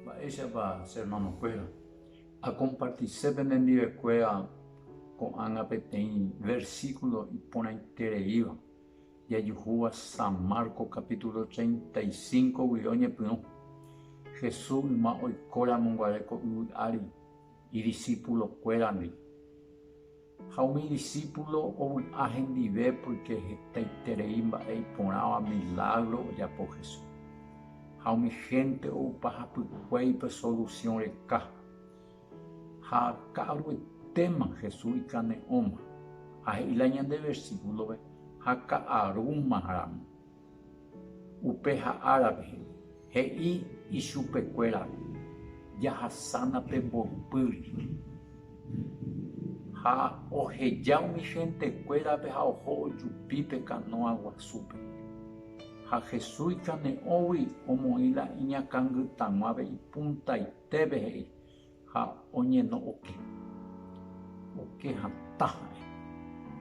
Mba'éichapa che ermanokuéra akompartise penendivekuéra ko'ág̃a peteĩ versíkulo iporãitereíva jajuhúva San Marcos kapítulo treinta y cinco guive oñepyrũ. Jesús yma oikóramonguare ko yvy ári, idisipulokuérandi Ha umi disípulo ovy'a hendive pórke hetaiterei mba'e iporãva milágro ojapo Jesús. Ha umi hénte oupa hapykuéi pe solusión reka. Ha ka'aruetéma Jesús ikane'õma. Ha he'i la ñande versíkulove, Ha ka'arúmaramo. Upe ha árape, he'i ichupe kuéra, Jahasána pe mboypýri. Ha oheja umi hénte kuérape ha oho ojupi pe kanóa guasúpe. Ha Jesús ikane'õgui omoĩ la iñakãngytaguãve ipuntaitépe he'i, Ha oñeno'õke. Oke hatã ha'e.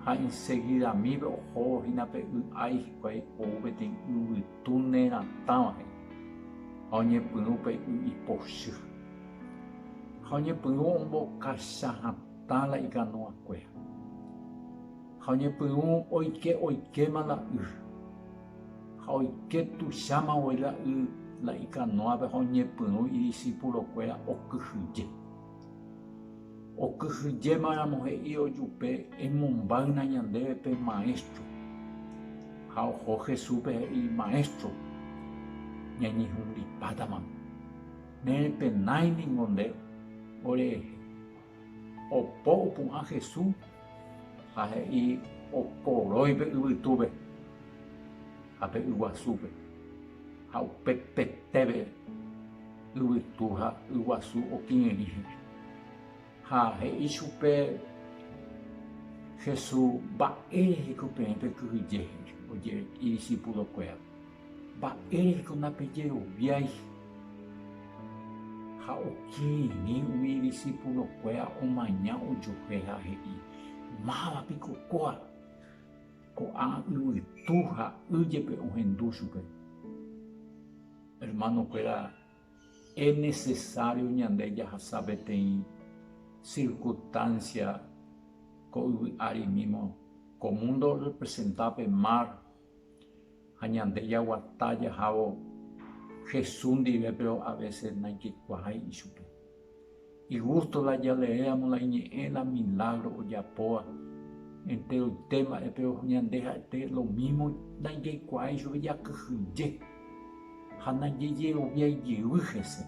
Ha insegidamípe ohóvo hína pe y ái hikuái ou peteĩ yvytu neratãva he'i. Ha oñepyrũ pe y ipochy. Ha oñepyrũ ombokacha hatã la ikanoakuéra. Ha oñepyrũ oike oikéma la y. Ha oike tuicháma voi la y la ikanoápe ha oñepyrũ idisipulokuéra okyhyje. Okyhyjéma ramo he'i ojupe, Emombáyna ñandéve pe Maestro. Ha oho Jesúspe he'i, Maestro, ñañehundipátama. Nerepenái ningo nde orehe. Opo opu'ã Jesús ha he'i okoroi pe yvytúpe ha pe yguasúpe, ha upe petépe yvytu ha yguasu okirirĩ he'ẽ. Ha he'i chupe Jesús mba'éreiko peẽ pekyhyje he'ẽ ojere idisipulokuérape. Mba'éreiko napejeroviái? Ha okirirĩ umi idisipulokuéra omaña ojupe ha he'i, Máva piko kóa? Ko'ã yvytu ha y jepe ohendu chupe. Hermanokuéra, enesesário ñande jahasa peteĩ sirkustánsia ko yvy árimímo. Ko múndo orrepresenta pe mar ha ñande jaguata jahávo Jesús ndive péro avése naijekuaái ichupe. Igústo la jaleéramo la iñe'ẽ la milágro ojapóva, enteroite mba'e péro ñande ha'ete lomímo naijekuaái chupe jakyhyje ha najejeroviái jey hese.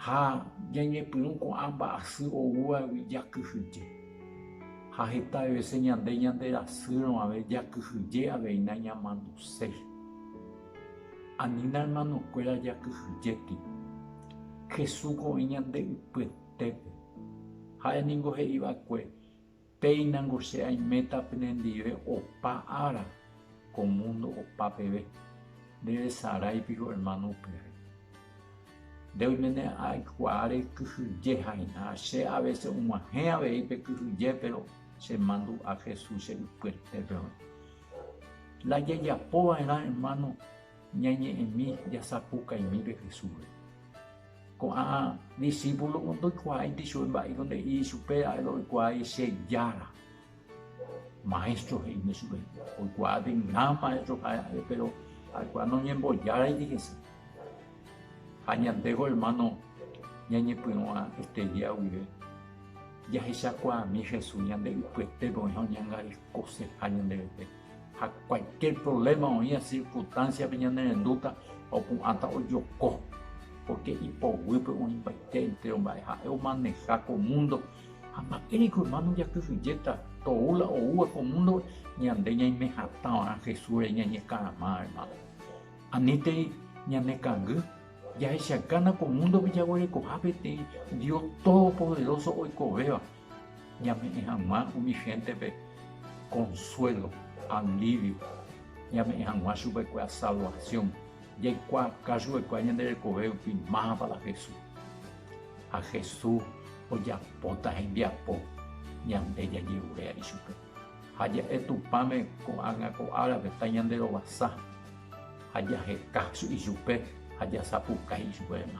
Ha ñañepyrũ ko'ã mba'asy oúvagui jakyhyje. Ha heta vese ñande ñanderasýrõ avei jakyhyje aveína ñamanduséi. Anína hermanokuéra jakyhyjéti. Jesúsgo oĩ ñande ypyetépe. Ha'e ningo he'iva'ekue Péina nko che aiméta penendive opa ára ko mundo opa peve, ndevesarái piko hermano upépe. Nde oiméne aikuaáre kyhyje ha'eha, che a veces og̃uahẽ avei pe kyhyje pero che mandu'a Jesús che ypyetépe oĩ. La jajapova'erã hermano Ñañe'ẽmi jasapukaimi pe Jesúsre. Ko'ã disípulomo ndoikuaáinte ichupe mba'éiko nde'i ichupe, ha'éva oikuaái che Jára. Maéstro, he'íne chupe. Oikuaa de gran maéstro ha'e, péro ha'ekuéra noñembojáraiti hese. Ha ñandéko ermáno ñañepyrũva estregia guive, jahechakuaami Jesús ñande ypyetépe oĩ ha oñangarekoseha ñande rete. Ha cualquier problema oĩva circunstanciape ñanerendúta opu'ãta ojoko, porque ipoguýpe oĩmbaite entero mba'e ha'e omaneja ko mundo ha mba'éreko hermano jakyhyjéta tou la oúva ko mundope ñande ñaime hatã va'erã Jesúsre ñañekarama hermano. Anítei ñanekangy jahechagana ko mundope jaguerekoha peteĩ Dios todopoderoso oikovéva Ñame'ẽ hag̃ua umi héntepe konsuélo, alívio, ñame'ẽ hag̃ua chupekuéra salvasión, jaikuaaka chupekuéra ñande rekove rupi mávapa la Jesús. Ha Jesús ojapóta hembiapo ñande jajeruréa ichupe. Ha ja'e Tupãme ko'ág̃a ko árape tañanderovasa, ha jaheka ichupe ha jasapukái ichupe renda.